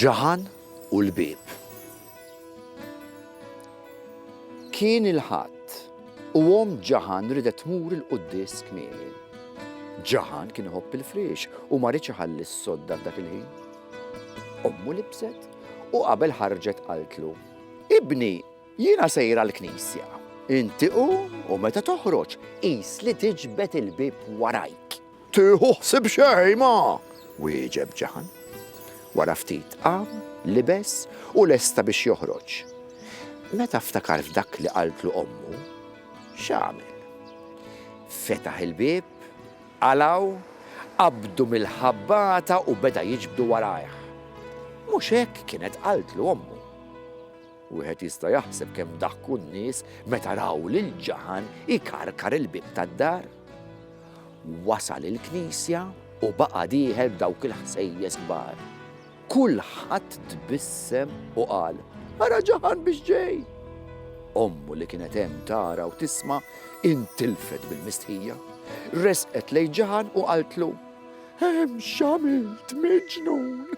Ġaħan u l-bieb. Kien il-Ħadd u omm Ġaħan riedet tmur il-quddies kmieni. Ġaħan kien iħobb il-friex u ma riedx iħalli s-sodda f'dak il-ħin. Ommu libset u qabel ħarġet qaltlu, Ibni, jiena sejra l-knisja. Inti qum u meta toħroġ, qis li tiġbed il-bieb warajk. Tieħu ħsieb xejn ma! wieġeb Ġaħan. Wara ftit qam, libes u lesta biex joħroġ. Meta ftakar f'dak li qaltlu ommu, x'għamel? Fetaħ il-bieb, qalgħu, qabdu mill-ħabbata u beda jiġbdu warajh. Mhux hekk kienet qaltlu ommu. Wieħed jista' jaħseb kemm daħku n-nies meta raw lil Ġaħan ikarkar il-bieb tad-dar. Wasal il-knisja u baqa' dieħel b'dawk il-ħsejjes kbar. Kulħadd tbissem u qal, Ara ġaħan biex ġej! Ommu li kienet hemm tara u tisma' intilfet bil-mistħija. Resqet lejn ġaħan u qaltlu, Hemm x'għamilt miġnun!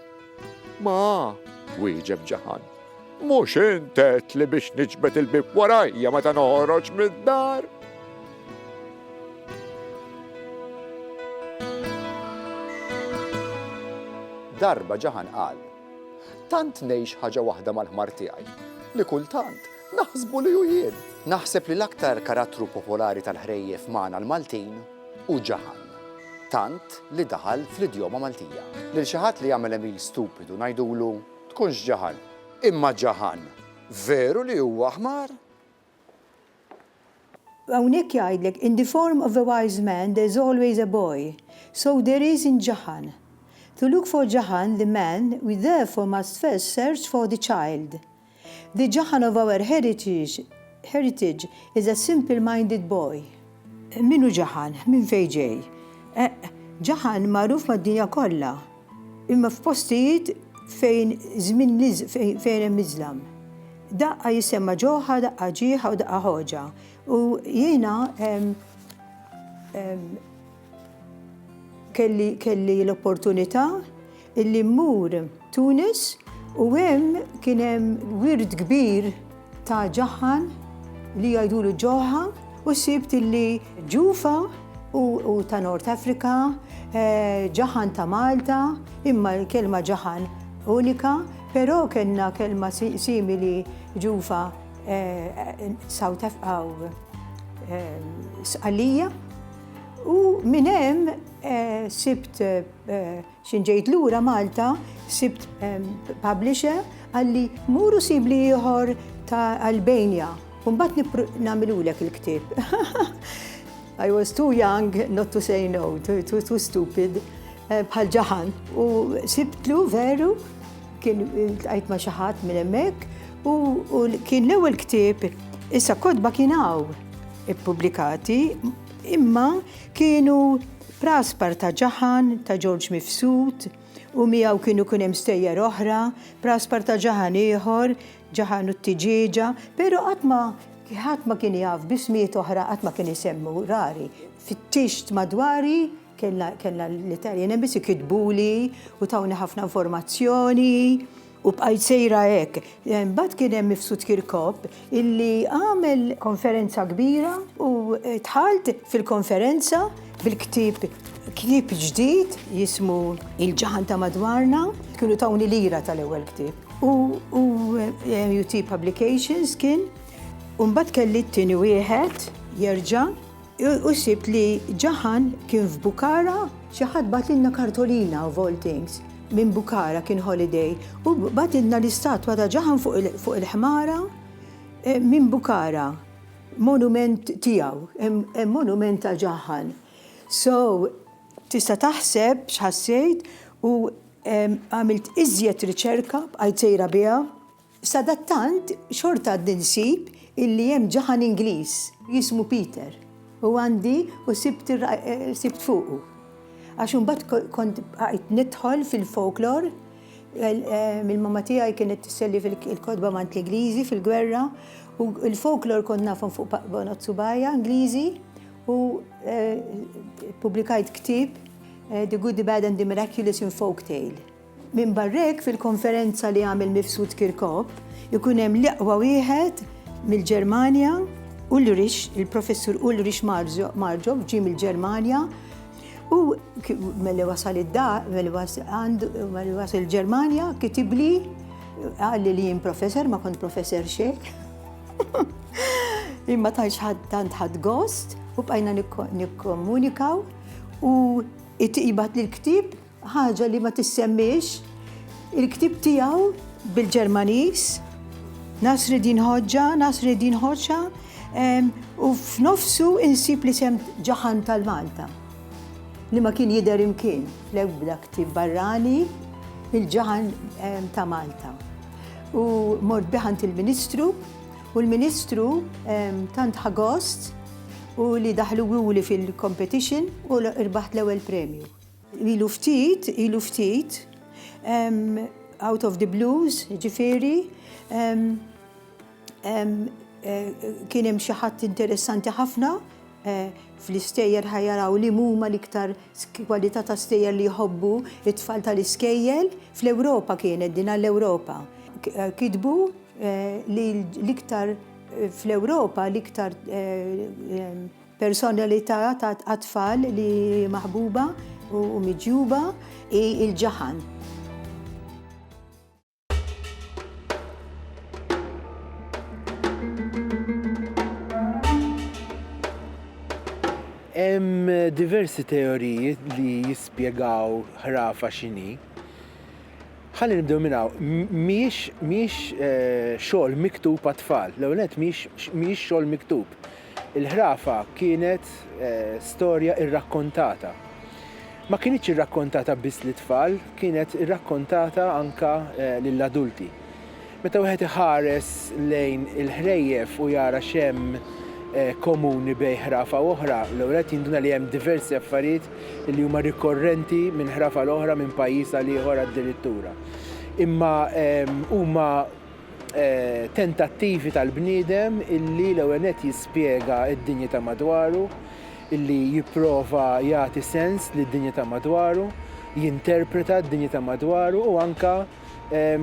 Ma, wieġeb Ġaħan, mhux int għedtli biex niġbed il-bieb warajja meta noħroġ mid-dar? Darba Ġaħan qal, Tant ngħix ħaġa waħda mal-ħmar tiegħi li kultant naħsbu li hu jien. Naħseb li l-aktar karattru popolari tal-ħrejjef magħna l-Maltin u Ġaħan, tant li daħal fl-idjoma Maltija. Lil xi ħadd li jagħmel għemil stupidu ngħidulu, Tkunx Ġaħan! Imma Ġaħan, veru li huwa ħmar? Hawnhekk jgħidlek, In the form of a wise man there is always a boy, so there is in Ġaħan. To look for Ġaħan, the man, we therefore must first search for the child. The Jahanov-Our heritage is a simple-minded boy. Min hu Jahan? Minn fejn ġej? Eq, Jahan magħruf mad-dinja kollha, imma f'postijiet fejn żmien fejn hemm iżlam. Daqqa jissemma ġewħa, daqqa ġieħa u daqqa ħoġa. U jiena Kelli kelli l-opportunità illi mmur Tunis u hemm kien hemm wirt kbir ta' ġaħħan li jgħidulu Ġoħħa u sibt illi Ġufa hu hu ta' North Africa, Ġaħħan ta' Malta, imma l-kelma Ġaħħan unika, però kellna kelma simili Ġufa South Af aw Sqallija. U minn hemm eh, sibt eh, xinġejt lura Malta, sibt eh, publisher għalli muru sibli ieħor ta' Albania. Umbat namilulek il-ktib. I was too young not to say no, too, too, too stupid, eh, bħal ġaħan. U sibtlu veru, kien għajt ma xaħat minn emmek, u kien l-ewel ktib, issa kodba kien għaw. ippubblikati, imma kienu Praspar ta' Ġaħan, ta' Ġorġ Mifsud, u miegħu kienu kien hemm stejjer oħra, Praspar ta' Ġaħan ieħor, Ġaħan u t-Tiġieġa, però qatt ma ħadd ma kien jaf b'ismijiet oħra qatt ma kien isemmu, rari. Fittixt madwari, kellna l-Italjan Embassy, kitbuli u tawni ħafna informazzjoni. U bqajt sejra hekk. Mbagħad kien hemm Mifsud Kirkop illi għamel konferenza kbira u dħalt fil-konferenza bil-ktieb ktieb ġdid jismu Il-Ġaħan ta' Madwarna, kienu tawni lira tal-ewwel ktieb. U MUT Publications kien, u mbagħad kelli t-tieni wieħed jerġa', U sibt li Jahan kien f'Bukhara. Xi ħadd bagħatilna kartolina of all things minn Bukhara, kien holiday, u bagħatilna l-istatwa ta' Jahan fuq il-ħmara minn Bukhara. Monument tiegħu, hemm monument ta' Jahan. So, tista' taħseb x'ħassejt u għamilt iżjed riċerka, bqajt sejra biha. Sadattant, xorta għadni nsib illi hemm ġaħan Ingliż jismu Peter u għandi u sibt sibt fuqu. Għax imbagħad kont bqajt nidħol fil-folklor mill-mamma tiegħi kienet tisselli fil-kotba mant l-Ingliżi fil-gwerra u l-folklor kont nafhom fuq bonot subajja Ingliżi u ppubblikajt ktieb The Good, the Bad and the Miraculous in Folktale. Minbarra hekk, fil-konferenza li għamel Mifsud Kirkop, ikun hemm l-iqwa wieħed mill-Ġermanja, Ulrich, il-Professur Ulrich Marjob ġie mill-Ġermanja u meli wasal id-dar, meli wasal il-Ġermanja, kitibli għalli li jien professor, ma kont professor xejn. Imma tantx tant ħadd gost u bqajna nikkomunikaw u it-tiqibat l-ktib Ħaġa li ma tissemmiex, il-ktieb tiegħu bil-Ġermaniż, Nasreddin Hoxha, Nasreddin Hoxha, u f'nofsu insib li sem ġaħan tal-Malta, li ma kien jidher imkien fl-ebda ktieb barrani il-ġaħan ta' Malta. U mort biħant il-Ministru, u l-Ministru tant ħagost u li daħlu għuli fil-competition u rbaħt l-ewwel premju. Ilu ftit, ilu ftit, out of the blues, jiġifieri, kien hemm xi ħadd interessanti ħafna fl-istejjer ħa jaraw li huma l-iktar kwalità ta' stejjer li jħobbu t-tfal tal-iskejjel, fl-Ewropa kienet din għall-Ewropa. Kitbu li l-iktar fl-Ewropa l-iktar Persona li tara għat-tfal li maħbuba u miġjuba hi l-ġaħan. Hemm diversi teoriji li jispjegaw ħrafa x'inhi. Ħalli nibdew minn hawn, mhijiex mhijiex eh, xogħol miktub għat-tfal. L-ewwel nett mhijiex xogħol miktub. Il-ħrafa kienet storja irrakkontata. Ma kinitx irrakkontata biss lit-tfal, kienet irrakkontata anke lill-adulti. Meta wieħed iħares lejn il-ħrejjef u jara x'hemm komuni bejn ħrafa u oħra, l-ewwel nett jinduna li hemm diversi affarijiet li huma rikorrenti minn ħrafa għal oħra, minn pajjiż għal ieħor addirittura. Imma huma. tentattivi tal-bniedem illi l-ewwel nett jispjega d-dinja ta' madwaru, illi jipprova jagħti sens lid-dinja ta' madwaru, jinterpreta d-dinja ta' madwaru u anke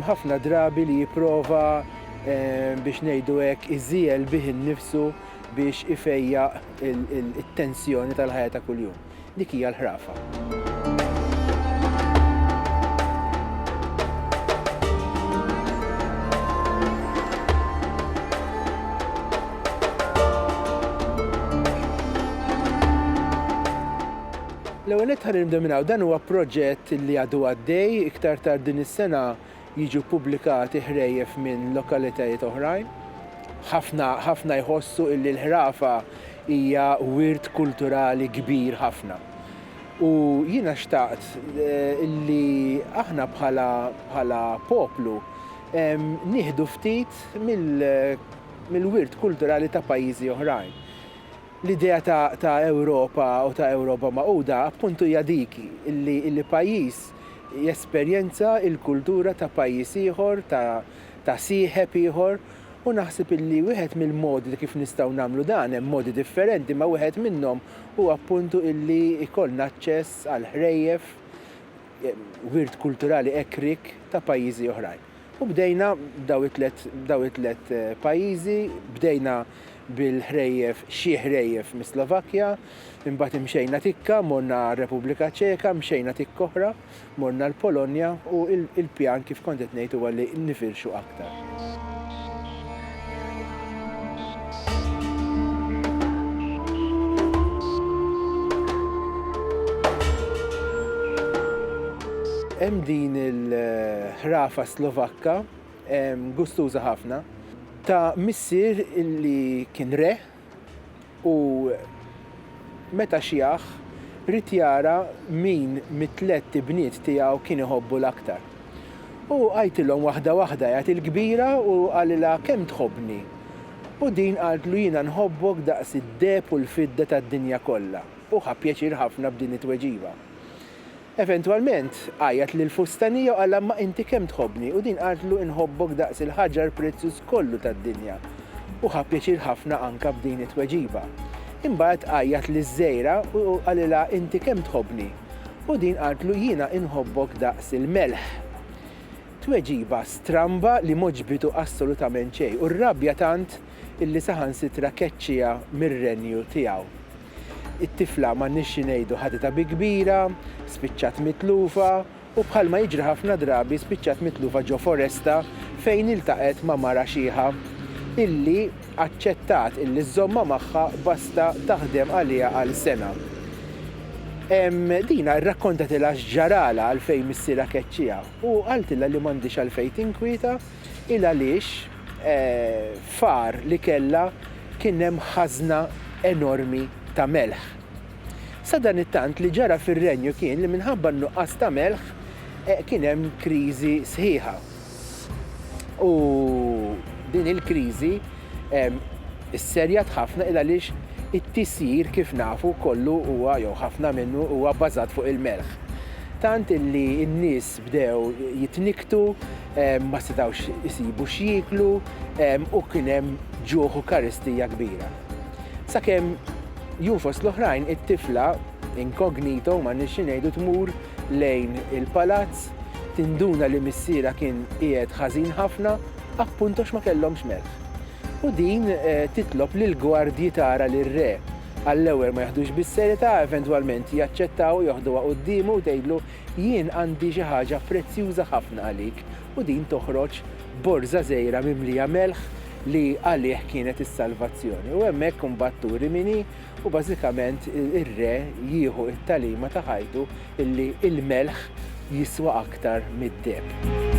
ħafna drabi li jipprova biex ngħidu hekk iżiegħel bih innifsu biex ifejjaq it-tensjoni tal-ħajja ta' kuljum. Dik hija l-ħrafa. L-ewwel nett ħa nindeminaw dan huwa proġett li għadu għaddej iktar tard din is-sena jiġu ppubblikati ħrejjef minn lokalitajiet oħrajn. Ħafna ħafna jħossu illi l-ħrafa hija wirt kulturali kbir ħafna. U jiena xtaqt illi aħna bħala bħala poplu nieħdu ftit mill mill-wirt kulturali ta' pajjiżi oħrajn. L-idea ta' ta' Ewropa u ta' Ewropa Magħquda appuntu hija dik illi illi pajjiż jesperjenza l-kultura ta' pajjiż ieħor, ta' ta' sieħeb ieħor, u naħseb illi wieħed mill-modi ta' kif nistgħu nagħmlu dan, hemm modi differenti, imma wieħed minnhom hu appuntu illi jkollna aċċess għall-ħrejjef, wirt kulturali hekk rik, ta' pajjiżi oħrajn. U bdejna b'daw it-tliet b'daw it-tliet pajjiżi, bdejna bil-ħrejjef, xi ħrejjef mis-Slovakkja, imbagħad imxejna tikka, morna għar-Repubblika Ċeka, mxejna tikka oħra, morna l-Polonja u l-pjan kif kont qed ngħid huwa li nifirxu aktar. Hemm din il-ħrafa Slovakka gustuża ħafna ta' missier li kien re u meta xiegħ, ried jara min mit-tlett ibniet tiegħu kien iħobbu l-aktar. U għajtilhom waħda waħda, għiegħed il-kbira u qalilha, Kemm tħobbni? U din qaltlu, Jiena nħobbok daqs id-deheb u l-fidda tad-dinja kollha. Hu ħa pjaċir ħafna b'din it-tweġiba. Eventwalment, għajjat lill-fustanija u qalha, Ma inti kemm tħobbni? U din qaltlu, Inħobbok daqs il-ħaġar prezzjuż kollu tad-dinja. U ħa pjaċir ħafna anke b'din it-tweġiba. Imbagħad għajjat liż-żgħira u qalilha, Inti kemm tħobbni? U din qaltlu, Jiena inħobbok daqs il-melħ. Tweġiba stramba li m'għoġbitu assolutament xejn u rrabja tant illi saħansitra keċċiha mir-renju tiegħu. It-tifla m'għandniex xi ngħidu ħaditha bi kbira, spiċċat mitlufa u bħalma jiġri ħafna drabi spiċċat mitlufa ġo foresta fejn iltaqgħet ma' mara xiħa illi aċċettat illi żżommha magħha basta taħdem għaliha għal sena. Dina rrakkontatilha x'ġaralha għalfejn missierha keċċiha u qaltilha li m'għandhiex għalfejn tinkwieta, 'il għaliex f'għar li kellha kien hemm ħażna enormi ta' melħ. Sadanittant li ġara fir-Renju kien li minħabba n-nuqqas ta' melħ kien hemm kriżi sħiħa. U din il-kriżi sserjat ħafna 'il għaliex it-tisjir kif nafu kollu huwa jew ħafna minnu huwa bbażat fuq il-melħ. Tant illi n-nies Bdew jitnikktu, ma setgħux isibu x'jieklu u kien hemm ġuħ u karistija kbira. Sakemm jum fost l-oħrajn it-tifla, incognito, m'għandniex xi ngħidu, tmur lejn il-palazz, tinduna li missierha kien qiegħed ħażin ħafna, appunt għax ma kellhomx melħ. U din titlob lill-gwardji tara lir-re, għall-ewwel ma jaħdux bis-serjetà, eventwalment jaċċettaw, joħduha quddiemu u tgħidlu Jien għandi xi ħaġa prezzjuża ħafna għalik u din toħroġ borża żgħira mimlija melħ li għalih kienet is-salvazzjoni. U hemmhekk imbagħad turi min hi u bażikament ir-re jieħu t-tagħlima ta' ħajtu illi l-melħ jiswa aktar mid-deheb.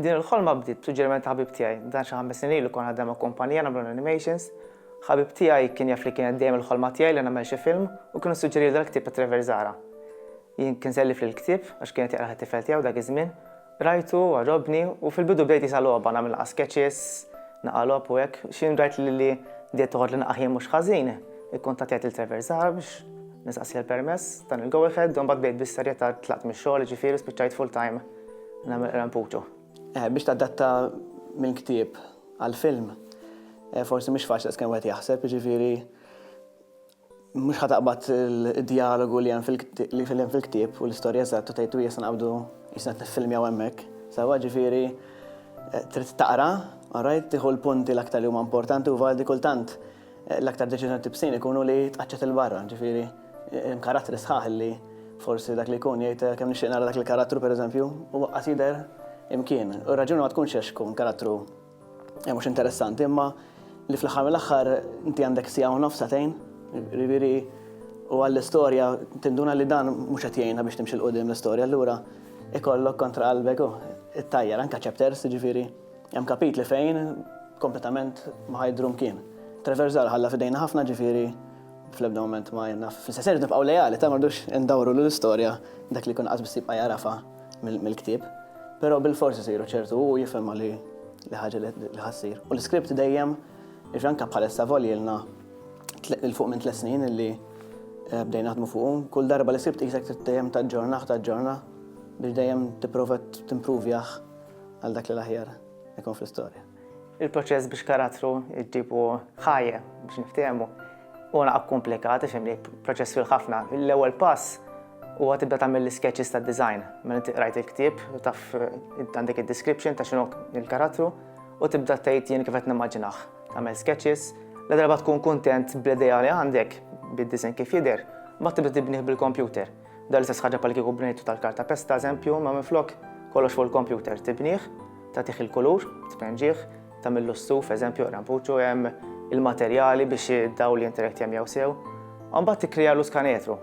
Din il-ħolma bdiet b'suġġeriment ta' ħabib tiegħi. Dan xi ħames snin ilu kont naħdem ma' kumpanija nagħmlu l-animations. Ħabib tiegħi kien jaf li kienet dejjem il-ħolma tiegħi li nagħmel xi film u kien issuġġerili dal-ktieb ta' Trevor Zahra. Jien kien sellifli l-ktieb għax kien qed jaqrah it-tifel tiegħu dak iż-żmien. Qrajtu, għarrobni u fil-bidu bdejt qisha logħba, nagħmel naqa' sketches, naqa' logħob u hekk. X'ħin rajt li li bdiet toħodli naqa' ħin mhux ħażin, ikkuntattjajt lil Trevor Zahra biex nistaqsih għall-permess, tani l-go ahead u mbagħad bdejt bis-serjetà tlaqt mix-xogħol jiġifieri u spiċċajt full-time. Nagħmel rampuċu. Eh, biex tadatta minn ktieb għal-film, eh, forsi mhux faċli skemm wieħed jaħseb, jiġifieri mhux ħataqbad il-dialogu li hemm fil-ktieb u l-istorja eżatt u tgħidu jista' naqbdu jista' nifilmjaw hemmhekk. Sawa ġifieri eh, trid taqra, alright, tieħu l-punti l-aktar li huma importanti u valdi kultant L-aktar deċiżjoni tibsin ikunu li tqaċċet 'il barra, ġifieri hemm karattri sħaħ li forsi dak li jkun jgħid kemm nixtieq nara dak il-karattru pereżempju, huwa qas jidher imkien. U r-raġuni ma tkunx għax ikun karattru mhux interessanti imma li fl-aħħar mill-aħħar inti għandek siegħa u nofs sagħtejn, jiġifieri u għall-istorja tinduna li dan mhux qed jgħinha biex timxi 'l quddiem l-istorja allura ikollok kontra qalbek it-tajjar anke chapters jiġifieri. Hemm kapitli fejn kompletament ma ħajdru mkien. Treversal ħalla f'idejna ħafna ġifieri fl-ebda mument ma jenna fl-istess ħin nibqgħu lejali ta' ma rridux indawru lill-istorja dak li jkun qas biss jibqa' jagħrafha mill-ktieb. Però bil-fors isiru ċertu u jifhimha li li ħaġa li ħassir. U l-iskript dejjem iġanka bħalissa voljilna il-fuq minn tles snin illi eh, bdejna naħdmu fuqu. Kull darba l-iskript jisek dejjem ta' ġorna, ta' ġorna biex dejjem tipprova timpruvjaħ għal dak li l-aħjar ikun fl-istorja. Il-proċess biex karattru ġibu ħajja biex niftehmu u naqgħu komplikati xem li proċess fil ħafna. L-ewwel pass u għat tibda tagħmel l-sketches ta' design. Mela rajt il-ktieb, taf għandek id-description ta' xinu il-karattru u tibda tgħid jien kif qed nimmaġinaħ. Tagħmel sketches, la darba tkun kuntent bl-idea li għandek bid-design kif jidher, ma tibda tibnih bil-kompjuter. Dan l-istess ħaġa bħal kieku bnejtu tal-karta pesta eżempju, ma minflok kollox fuq il-kompjuter tibnieh, tagħtih il-kulur, tpenġih, tagħmillu s-suf eżempju rampuċu hemm il-materjali biex id-dawl jinterekt jemmjaw sew. Mbagħad tikkrijalu skanetru.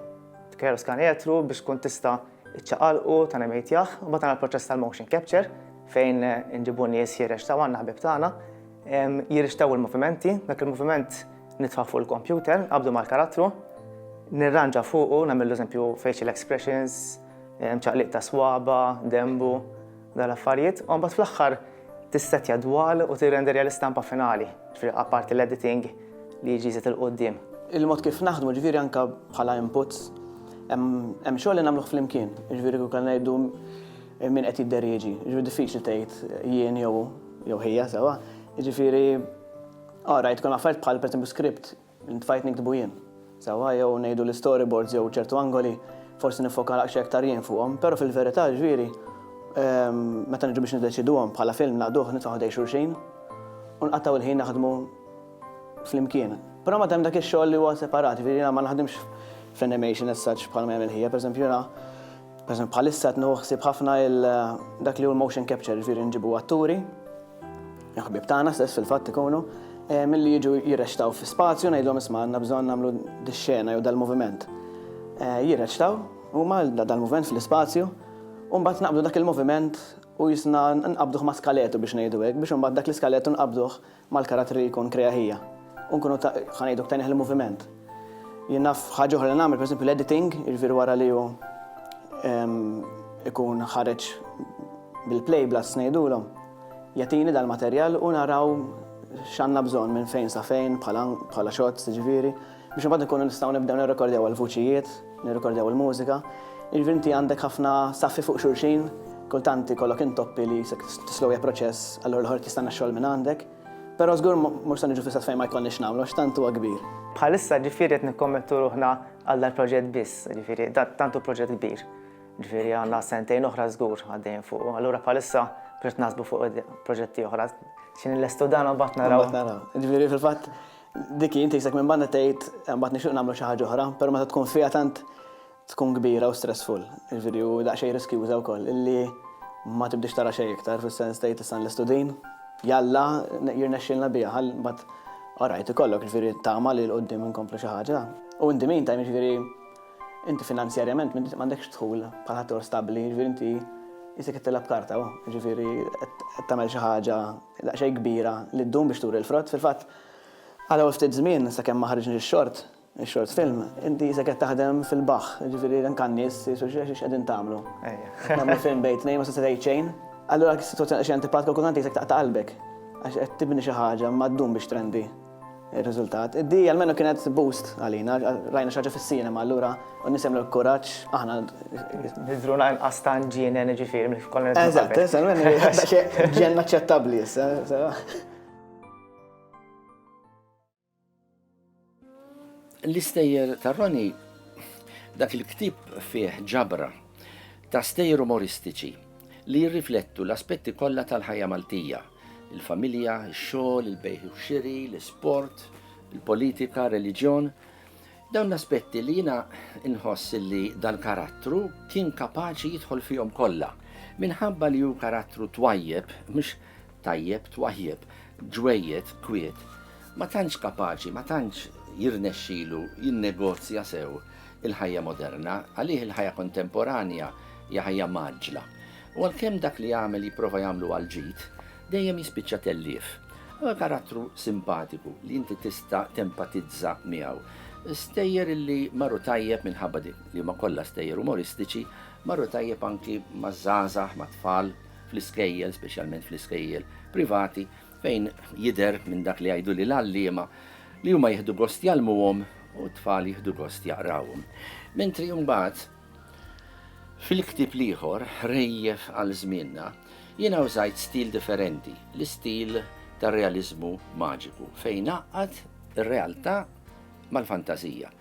Tikkrijalu skanetru biex tkun tista' iċċaqalqu ta' nemejtjah, mbagħad għandna l-proċess tal-motion capture fejn inġibu nies ħiereġ ta' għandna ħbib tagħna Jirrixtaw il-movimenti, dak il-moviment nitfa' fuq il-kompjuter, qabdu mal-karattru, nirranġa fuqu, nagħmel eżempju facial expressions, ċaqliq ta' swaba, dembu, dal-affarijiet, u mbagħad fl-aħħar tissetja dwal u tirrenderja l-istampa finali, ġifieri apparti l-editing li jiġi jżid il-quddiem. Il-mod kif naħdmu ġifieri anke bħala inputs, hemm xogħol li nagħmluh flimkien, ġifieri kieku ngħidu Min qed jidderieġi, jiġifieri diffiċli tgħid jien jew hu jew hija sewwa, jiġifieri ah rajt kemm affarijiet bħal pereżempju script li ntfajt niktbu jien sewwa jew ngħidu l-istoryboards jew ċertu angoli forsi niffoka daqsxejn aktar jien fuqhom, però fil-verità ġifieri meta niġu biex niddeċiduhom bħala film naqduh nitfgħu ħdejn xulxin u nqattgħu l-ħin naħdmu flimkien. Però mbagħad hemm dak ix-xogħol li huwa separat, jiġifieri jiena ma naħdimx fl-animation as such bħalma jagħmel hija, pereżempju jiena Pereżempju bħalissa qed nieħu ħsieb ħafna dak li hu l-motion capture, jiġifieri nġibu atturi, ħbieb tagħna stess fil-fatt ikunu, milli jiġu jirreċtaw fi spazju ngħidlhom isma' għandna bżonn nagħmlu dix-xena jew dal-moviment. Jirreċtaw huma dal-moviment fl-ispazju u mbagħad naqbdu dak il-moviment u jisna nqabbduh ma' skaletu biex ngħidu hekk biex imbagħad dak l-iskaletu nqabbduh mal-karattri li jkun krea hija. U nkunu ta', ħa ngħidu ktajnih il-moviment. Jien naf ħaġa oħra li nagħmel, pereżempju l-editing, jiġifieri wara li hu ikun ħareġ bil-play blast ngħidulhom, jagħtini dal-materjal u naraw x'għandna bżonn minn fejn sa fejn bħala shots jiġifieri. Biex imbagħad inkunu nistgħu nibdew nirrekordjaw il-vuċijiet, nirrekordjaw il-mużika. Jiġifieri inti għandek ħafna saffi fuq xulxin, kultant ikollok intoppi li tislowja proċess, allura l-ieħor qed jistenna x-xogħol minn għandek. Però żgur mhux se niġu fl-istess fejn ma jkollniex nagħmlu għax tant huwa kbir. Bħalissa ġifieri qed nikkommettu ruħna għal dal-proġett biss, ġifieri tant hu proġett kbir. Ġifieri għandna sentejn oħra żgur għaddejjin fuqu. Allura bħalissa biex naħsbu fuq proġetti oħra. Xi nillestu dan u mbagħad naraw. Mbagħad naraw. Ġifieri fil-fatt Dik hi ntisek minn banda tgħid imbagħad nixtieq nagħmlu xi ħaġa oħra, però meta tkun fiha tant tkun kbira u stressful, jiġifieri u daqsxejn riskjuża wkoll, illi ma tibdiex tara xejn iktar, fis-sens tgħid issa nlestu din, jalla jirnexxielna biha, ħa mbagħad orajt ikollok jiġifieri tama li 'l quddiem inkomplu xi ħaġa. U in the meantime jiġifieri inti finanzjarjament m'għandekx dħul bħal ħaddieħor stabbli, jiġifieri inti isek qed tilgħab karta, jiġifieri qed tagħmel xi ħaġa daqsxejn kbira li ddum biex turi l-frott, fil-fatt Għal hawn ftit żmien, sakemm ma ħariġniex ix-short, ix-short film, inti qisek qed taħdem fil-baħħ, jiġifieri anke n-nies jgħidu x'qegħdin tagħmlu. Qed nagħmlu film bejn tnejn ma tista' tgħid xejn. Allura dik is-sitwazzjoni hija xi antipatika u kultant qisek taqta' qalbek għax qed tibni xi ħaġa imma ddum biex trendi r-riżultat. Di almenu kienet boost għalina, rajna xi ħaġa fis-cinema allura u n-nies jagħmlu l-kuraġġ, aħna. Nidhrulna inqas ta' ġiennen jiġifieri milli konna nidhru qabel. Eżatt, issa almenu daqsxejn ġienn aċċettabbli issa. L-istejjer ta' Roni dak il-ktib fih ġabra ta' stejjer umoristiċi li jirriflettu l-aspetti kollha tal-ħajja Maltija, il-familja, ix-xogħol, il-bejħ u xiri, l-isport, il-politika, reliġjon. Dawn l-aspetti li jiena nħoss li dal-karattru kien kapaċi jidħol fihom kollha minħabba li hu karattru twajjeb mhux Tajjeb, twajjeb, ġwejjed, kwiet. Ma tantx kapaċi, ma tantx jirnexxilu jinnegozja sew il-ħajja moderna, għalih il-ħajja kontemporanja hija ħajja mgħaġġla. U għalkemm dak li jagħmel jipprova jagħmlu għall-ġid, dejjem jispiċċa tellief. Huwa karattru simpatiku li inti tista' tempatizza miegħu. Stejjer illi marru tajjeb minħabba li huma kollha stejjer umoristiċi, marru tajjeb anki maż-żgħażagħ, mat-tfal, fl-iskejjel, speċjalment fl-iskejjel privati, fejn jidher minn dak li jgħidu li l-għalliema li huma jieħdu gost jgħallmuhom u t-tfal jieħdu gost jaqrawhom. Mentri mbagħad fil-ktieb l-ieħor rejjef għal żmienna jiena użajt stil differenti, l-istil tar-realiżmu maġiku fejn għaqqad ir-realtà mal-fantażija.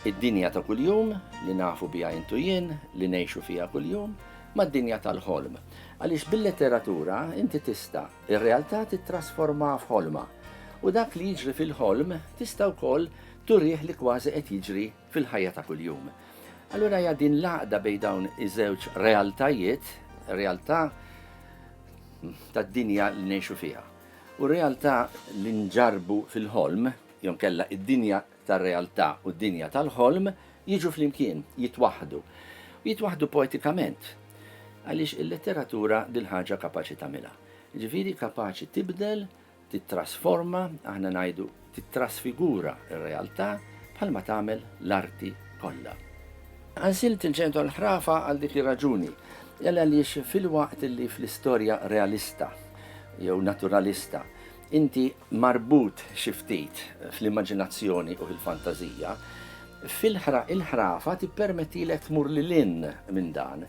Id-dinja ta' kuljum, li nafu biha int u jien, li ngħixu fiha kuljum, mad-dinja tal-ħolm. Għaliex bil-letteratura inti tista' r-realtà tittrasformha f'ħolma. U dak li jiġri fil-ħolm tista' wkoll turih li kważi qed jiġri fil-ħajja ta' kuljum. Allura hija din l-għaqda bejn dawn iż-żewġ realtajiet, realtà tad-dinja li ngħixu fiha u realtà li nġarrbu fil-ħolm, jew inkella d-dinja tar-realtà u d-dinja tal-ħolm jiġu flimkien, jitwaħħdu. U jitwaħħdu poetikament. Għaliex il-letteratura dil ħaġa kapaċi tagħmilha. Jiġifieri kapaċi tibdel, tittrasforma, aħna ngħidu tittrasfigura r-realtà bħalma tagħmel l-arti kollha. Għansilt il-ġenitwa l-ħrafa għal dik ir-raġuni, għaliex filwaqt li fl-istorja realista jew naturalista Inti marbut xi ftit fl-immaġinazzjoni u fil-fantażija, fil-ħrafa tippermettilek tmur lil hinn minn dan,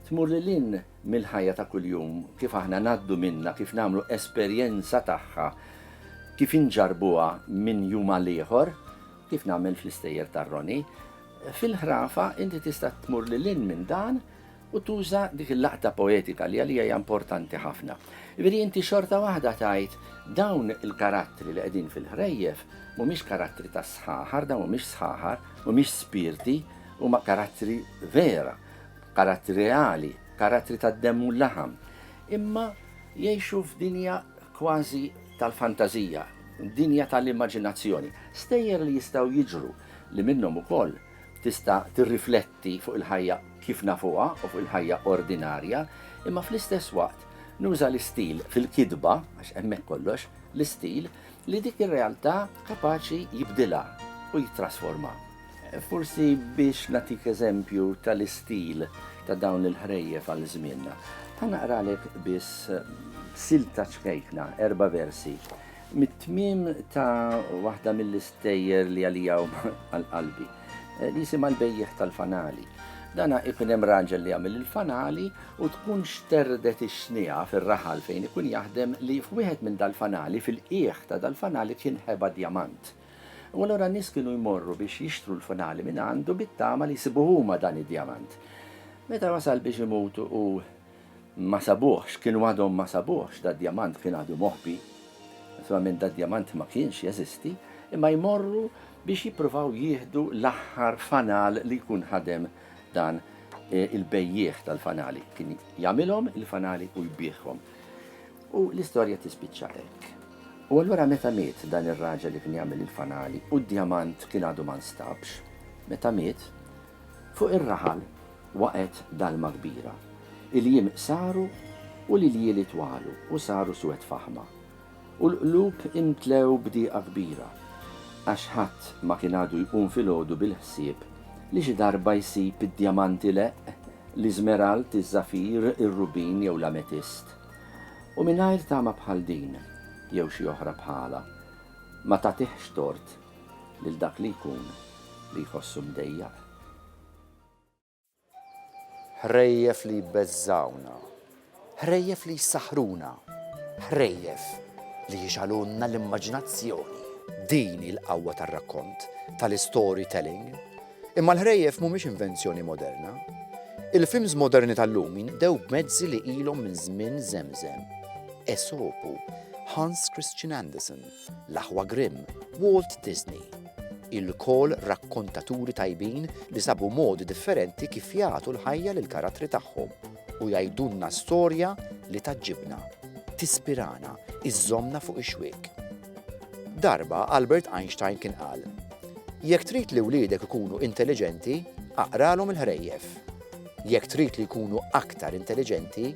tmur lil hinn mill-ħajja ta' kuljum kif aħna ngħaddu minnha, kif nagħmlu esperjenza tagħha, kif inġarrbuha minn jum għal ieħor, kif nagħmel fl-istejjer tar-Roni. Fil-ħrafa inti tista' tmur lil hinn minn dan U tuża dik il-laqta poetika li għalija hija importanti ħafna. Jiġifieri inti xorta waħda tgħid dawn il-karattri li qegħdin fil-ħrejjef mhumiex karattri ta' sħaħar, dawn mhumiex sħaħar, mhumiex spirti, huma karattri vera, karattri reali, karattri tad-demm u l-laħam. Imma jgħixu f'dinja kważi tal-fantażija, dinja tal-immaġinazzjoni, stejjer li jistgħu jiġru li minnhom ukoll tista' tirrifletti fuq il-ħajja kif nafuha u fuq il-ħajja ordinarja, imma fl-istess waqt nuża l-istil fil-kitba, għax hemmhekk kollox, l-istil, li dik ir-realtà kapaċi jibdilha u jittrasformha. Forsi biex nagħtik eżempju tal-istil ta' dawn il-ħrejjef għal żmienna, ħa naqralek biss silta ċkejkna, erba' versi, Mit-tmiem ta' waħda mill-istejjer li għalija huma għal qalbi, eh, li jisimha l-bejjeħ tal-fanali. Dana ikun hemm raġel li jagħmel il-fanali u tkun xterdet ix-xnija fir-raħal fejn ikun jaħdem li f'wieħed minn dal-fanali fil-qiegħ ta' dal-fanali kien ħeba djamant. U allura nies kienu jmorru biex jixtru l-fanali minn għandu bit-tama li jsibu huma dan id-djamant. Meta wasal biex imutu u Ma sabuhx, kienu għadhom ma sabuhx, dad-djamant kien għadu moħbi. Naturalment dad-djamant ma kienx jeżisti, imma jmorru biex jippruvaw jieħdu l-aħħar fanal li jkun ħadem dan e, il-bejjieħ tal-fanali. Kien jagħmilhom il-fanali u jbiħhom. U l-istorja tispiċċa hekk. U allura meta miet dan ir-raġel li kien jagħmel il-fanali u d-djamant kien għadu ma nstabx, meta miet, Fuq ir-raħal waqgħet dalma kbira. Il-jiem qsaru u l-iljieli twalu u saru swed f'aħma. U l-qlub imtlew b'dieqa kbira, għax ħadd ma kien għadu jqum filgħodu bil-ħsieb li xi darba jsib id-djamanti leqq, l-iżmerald, iż-żafir, ir-rubin jew l-ametist. U mingħajr tama bħal din, jew xi oħra bħalha, ma tagħtihx tort. lil dak li jkun li jħossu mdejjaq. Ħrejjef li jbeżżgħuna. Ħrejjef li jsaħħruna. Ħrejjef li jixgħalulna l-immaġinazzjoni. Din hi l-qawwa tar-rakkont, tal-istorytelling. Imma l-ħrejjef mhumiex invenzjoni moderna. Il-films moderni tal-lum jinqdew b'mezzi li ilhom minn żmien Żemżem, Esopu, Hans Christian Andersen. l-aħwa Grimm, Walt Disney. Ilkoll rakkontaturi tajbin li sabu modi differenti kif jagħtu l-ħajja lill-karattri tagħhom u jgħidulna storja li tgħaġġibna, tispirana, iżżommna fuq ix-xwiek. Darba Albert Einstein kien qal, Jekk trid li wliedek ikunu intelliġenti, aqralhom il-ħrejjef. Jekk trid li jkunu aktar intelliġenti,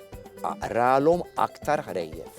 aqralhom aktar ħrejjef.